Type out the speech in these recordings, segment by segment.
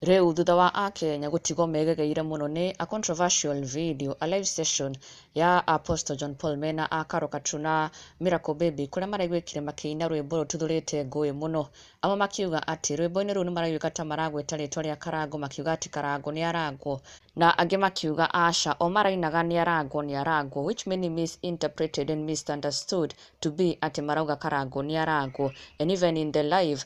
Rĩu thutha wa Akenya gũtigwo megegeire mũno nĩ a controversial video, a live session ya Apostle John Paul mena a Karo Katu na Miracle Baby kũrĩa maraigwĩkire makĩina rwĩmbo rũtuthũrĩte ngũĩ mũno. Amwe makiuga atĩ rwĩmbo-inĩ rũu nĩ maraigwĩka ta maragweta rĩtwa rĩa Karangũ makiuga atĩ Karangũ nĩ arangwo. Na angĩ makiuga aca o marainaga nĩ arangwo nĩ arangwo which many misinterpreted and misunderstood to be atĩ marauga Karangũ nĩ arangwo. And even in the live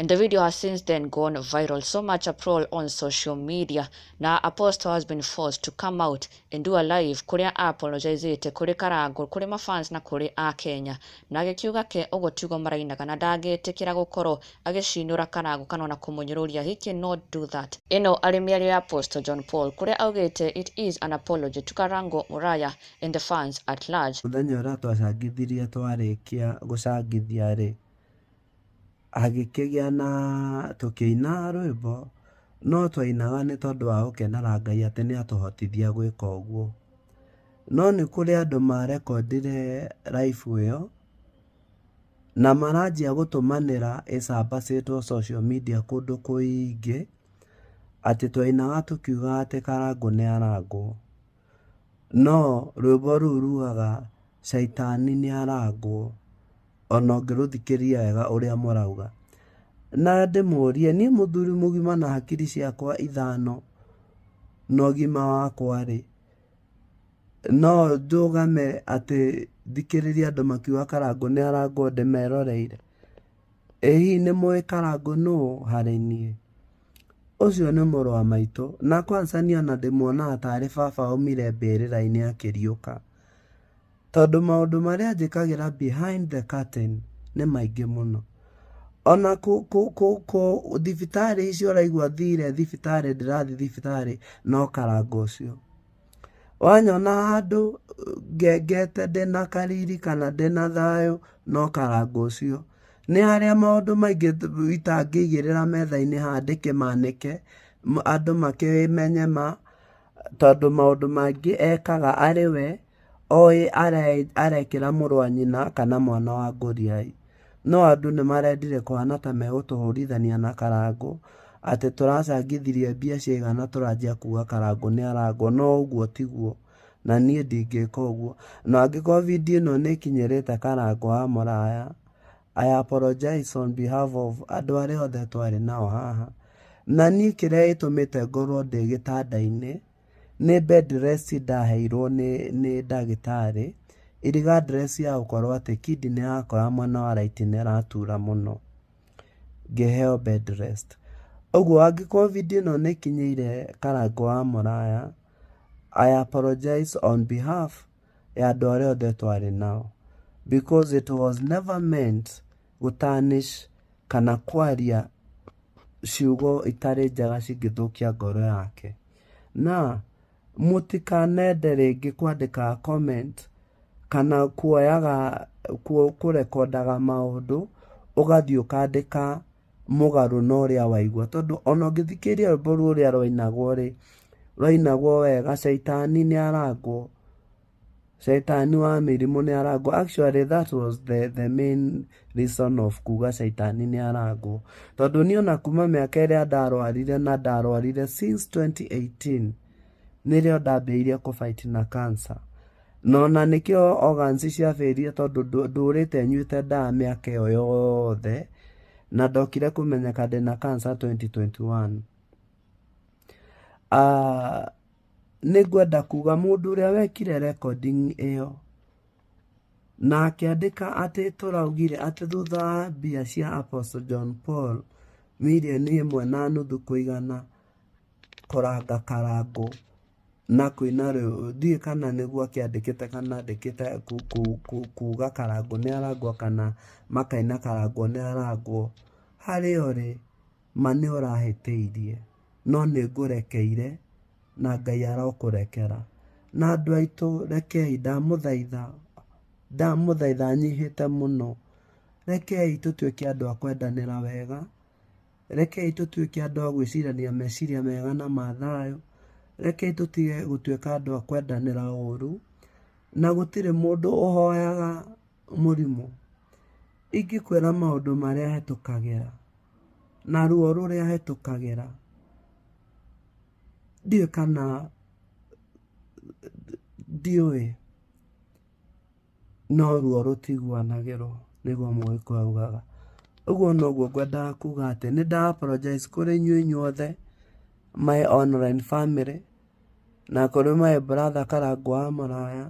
And the video has since then gone viral, so much uproar on social media. Now Apostle has been forced to come out and do a live kuria apologizete kuri Karangũ, kuri mafans na kuri a Kenya. Na agĩkiuga ke ũguo tiugo marainaga na ndangĩtĩkĩra gũkorwo agĩcinũra Karangũ kana ona kũmũnyũrũria. He cannot do that. Ĩno arĩ mĩario ya Apostle John Paul kuria augĩte it is an apology to Karangũ Muraya and the fans at large. Mũthenya ũrĩa twacangithirie twarĩkia gũcangithia-rĩ, hagĩkĩgĩa na tũkĩina rwĩmbo, no twainaga nĩ tondũ wa gũkenera Ngai atĩ nĩ atũhotithia gwĩka ũguo. No nĩ kũrĩ andũ marekondire live ĩyo, na maranjia gũtũmanĩra ĩcabacĩtwo social media kũndũ kũingĩ, atĩ twainaga tũkiugaga atĩ Karangũ nĩ arangwo. No rwĩmbo rũu rugaga caitani nĩ arangwo ona ũngĩrũthikĩrĩria wega ũrĩa mũrauga. Na ndĩmũrie niĩ mũthuri mũgima na hakiri ciakwa ithano na ũgima wakwa rĩ, no ndũgame atĩ thikĩrĩrie andũ makiuga karangũ nĩ arangwo ndĩmeroreire? Ĩ hihi nĩ mũĩ Karangũ nũũ harĩ niĩ? Ũcio nĩ mũrũ wa maitũ, na kwanza niĩ ona ndĩmuonaga tarĩ baba aumire mbĩrĩra-inĩ akĩriũka, tondũ maũndũ marĩa anjĩkagĩra behind the curtain nĩ maingĩ mũno. Ona thibitarĩ icio ũraigua thiire thibitarĩ ndĩrathiĩ thibitarĩ no Karangũ ũcio. Wanyona handũ ngengete ndĩ na kariri kana ndĩ na thayũ no karanga ũcio. Nĩ harĩa maũndũ maingĩ itangĩigĩrĩra metha-inĩ haha ndĩkĩmanĩke, andũ makĩmenye ma, tondũ maũndũ mangĩ ekaga arĩ we, oĩ arekĩra mũrũ wa nyina kana mwana wa ngũriai. No andũ nĩmarendire kũhana ta megũtũhũrithania na Karangũ atĩ tũracangithirie mbia ciaigana na tũranjia kuga Karangũ nĩ arangwo no ũguo tiguo na niĩ ndingĩka ũguo. Na angĩkorwo video ĩno nĩ ĩkinyĩrĩte Karangũ wa Mũraya, I apologize on behalf of andũ arĩa othe twarĩ nao haha. Na niĩ kĩrĩa gĩtũmĩte ngorwo ndĩ gĩtanda-inĩ Nĩ bedrest ndaheirwo nĩ nĩ ndagĩtarĩ, iriga dress ya gũkorwo atĩ kidney yakwa mwena wa right nĩ ĩratura mũno, ngĩheo bedrest. Ũguo angĩkorwo video ĩno nĩ ĩkinyĩire Karangũ wa Mũraya, I apologize on behalf ya andũ arĩa othe twarĩ nao, because it was never meant. gũtarnish kana kwaria ciugo itarĩ njega cingĩthũkia ngoro yake. Na mũtikanende rĩngĩ kwandĩkaga comment kana kuoyaga kũrekondaga maũndũ ũgathiĩ ũkandĩka mũgarũ na ũrĩa waigua. Tondũ ona ũngĩthikĩrĩria rwĩmbo rũrĩa rwainagwo rĩ, rwainagwo wega caitani nĩ arangwo. Caitani wa mĩrimũ nĩ arangwo. Actually that was the, the main reason of kuga caitani nĩ arangwo. Tondũ niĩ ona kuma mĩaka ĩrĩa ndarwarire na ndarwarire since 2018 nĩrĩo ndambĩrĩirie kũ fight na cancer. Na ona nĩkĩo organs ciambĩrĩirie tondũ ndũ- ndũrĩte nyuĩte ndawa mĩaka ĩyo yothe na ndokire kũmenyeka ndĩna cancer 2021. Ah, Nĩ ngwenda kuuga mũndũ ũrĩa wekire recording ĩyo na akĩandĩka atĩ tũraugire atĩ thutha wa mbia cia Apostle John Paul mirioni ĩmwe na nuthu kũigana kũranga Karangũ na kũina rwĩmbo, ndiũĩ kana nĩguo akĩandĩkĩte kana andĩkĩte kuuga Karangũ nĩ arangwo kana makaina Karangũ nĩ arangwo. Harĩa ũrĩ Ma nĩũrahĩtĩirie, no nĩngũrekeire, na Ngai arokũrekera. Na andũ aitũ rekei, ndamũthaitha, ndamũthaitha nyihĩte mũno, rekei tũtuĩke andũ a kwendanĩra wega, rekei tũtuĩke andũ a gwĩcirania meciria mega na ma thayũ, rekei tũtige gũtuĩka andũ a kwendanĩra ũru, na gũtirĩ mũndũ ũhoyaga mũrimũ. Ingĩkwĩra maũndũ marĩa hetũkagĩra na ruo rũrĩa hetũkagĩra, ndiũĩ kana ndiũĩ no ruo rũtiguanagĩrwo nĩguo mũgĩkũyũ augaga. Ũguo noguo ngwendaga kuga atĩ nĩ nda apologize kũrĩ inyuĩ inyuothe my online family na kũrĩ my brother karangũ wa maraya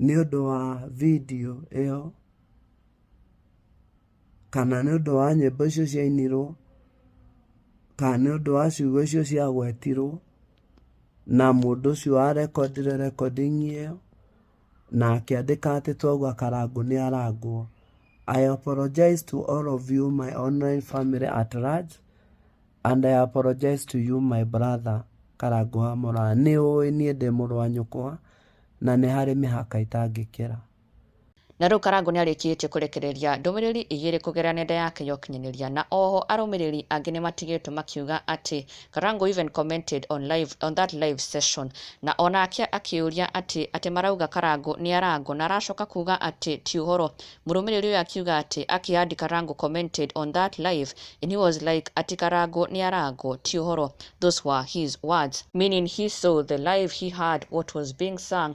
nĩũndũ wa video ĩyo. kana nĩ ũndũ wa nyĩmbo icio ciainirwo kana nĩ ũndũ wa ciugo icio ciagwetirwo na mũndũ ũcio warekondire recording ĩyo na akĩandĩka atĩ twauga karangũ nĩ arangwo I apologize to all of you my online family at large and I apologize to you my brother karangũ wa mũraa nĩ ũĩ niĩ ndĩ mũrũ wa nyũkwa na nĩ harĩ mĩhaka itangĩkĩra. Na rĩu Karangũ nĩarĩkĩtie kũrekereria ndũmĩrĩri igĩrĩ kũgerera nenda yake ya ũkinyanĩria na oho arũmĩrĩri angĩ nĩmatigĩtwo makiuga atĩ Karangũ even commented on live on that live session na onake akĩũria atĩ atĩ marauga Karangũ nĩarangwo na aracoka kuga atĩ ti ũhoro mũrũmĩrĩri ũyũ akiuga atĩ akĩ add Karangũ commented on that live and he was like atĩ Karangũ nĩarangwo ti ũhoro those were his words meaning he saw the live he heard what was being sung